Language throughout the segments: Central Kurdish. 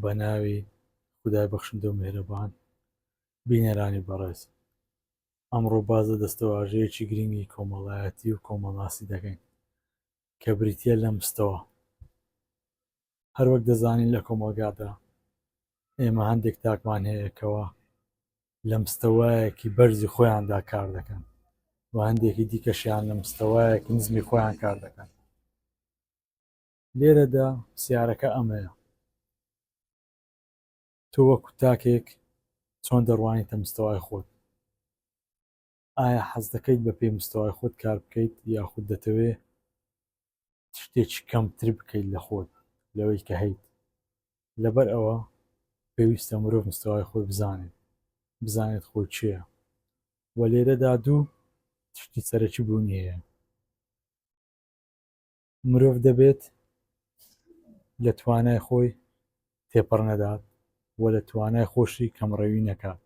بە ناوی خدای بەخشندە و مهرەبان بینەرانی بەڕێز ئەمڕۆ باز لە دەستەواژەیەکی گرنگی کۆمەڵایەتی و کۆمەڵاسی دەکەین کە بریتە لە مستەوە هەروەک دەزانین لە کۆمەلگادا ئێمە هەندێک تاکمان هەیەکەوە لە مستەوایەکی بەرزی خۆیاندا کار دەکەن و هەندێکی دیکەشیان لە مستەوایەکی نزمی خۆیان کار دەکەن لێرەدا پرسیارەکە ئەمەیە تۆ وەکو تاکێک چۆن دەڕوانیتە مستەوای خۆت ئایا حەز دەکەیت بە پێی مستەوای خۆت کار بکەیت یاخود دەتەوێ شتێکی کەمتر بکەیت لە خۆت لەوەی کە هەیت لەبەر ئەوە پێویستە مرۆڤ مستەوای خۆی بزانێت بزانێت خۆی چییە و لێرەدا دوو تشتی سەرەکی بوونی هەیە مرۆڤ دەبێت لە توانای خۆی تێپەڕ نەدات و لە توانای خۆشی کەمڕەوی نەکات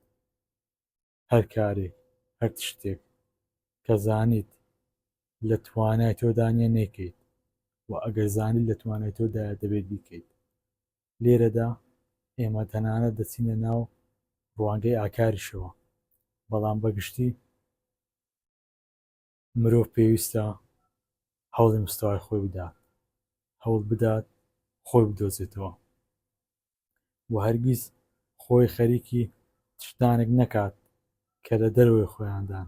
هەر کارێک هەر شتێک کە زانیت لە توانای تۆدانە نەیکەیت و ئەگەر زانیت لە توانای تۆدا دەبێت بیکەیت لێرەدا ئێمە تەنانە دەچینە ناو ڕوانگەی ئاکاریشەوە بەڵام بەگشتی مرۆڤ پێویستە هەوڵی مستەوای خۆی بدات هەوڵ بدات خۆی بدۆزێتەوە و هەرگیز خۆی خەریکی شتانێک نەکات کە لە دەرەوەی خۆیاندان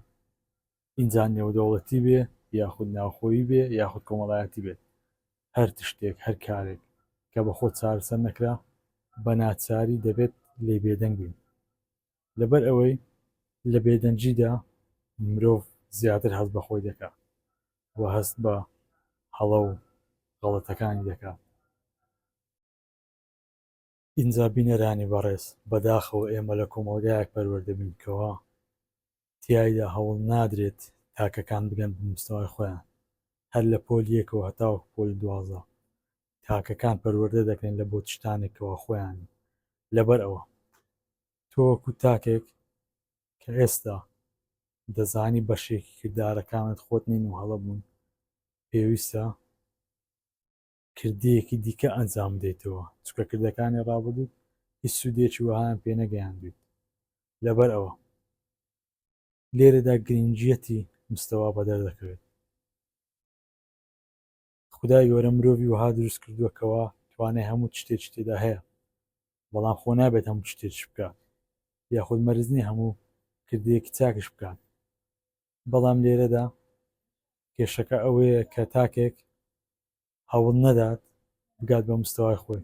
ئینجا نێودەوڵەتی بێ یاخود ناوخۆی بێ یاخود کۆمەڵایەتی بێت هەر تشتێک هەر کارێک کە بە خۆ چارەسەر نەکرا بە ناچاری دەبێت لێ بێدەنگ بین لەبەر ئەوەی لە بێدەنگیدا مرۆڤ زیاتر هەست بە خۆی دەکات و هەست بە هەڵە و غەڵەتەکانی دەکات ئینجا بینەرانی بەڕێز بەداخەوە ئێمە لە کۆمەڵگایەک پەروەردە بین کەوا تیایدا هەوڵ نادرێت تاکەکان بگەن بە مستەوای خۆیان هەر لە پۆلی یەکەوە هەتاوەکو پۆلی دوازدە تاکەکان پەروەردە دەکرێن لە بۆ تشتانێک کەوا خۆیان لەبەر ئەوە تۆ وەکو تاکێک کە ئێستا دەزانی بەشێکی کردارەکانت خۆت نین و هەڵە بوون پێویستە کردەیەکی دیکە ئەنجام بدەیتەوە چکە کردەکانی ڕابردوو هیچ سوودێکی وەهایان پێ نەگەیاندویت لەبەر ئەوە لێرەدا گرنگیەتی مستەوا بەدەر دەکەوێت خدای گەورە مرۆڤی وەها دروست کردووەکەوە توانای هەموو شتێکی تێدا هەیە بەڵام خۆ نابێت هەموو شتێک بکات یاخود مەرزنی هەموو کردەیەکی چاکش بکات بەڵام لێرەدا کێشەکە ئەوەیە کە تاکێک هەوڵ نەدات بگات بە مستەوای خۆی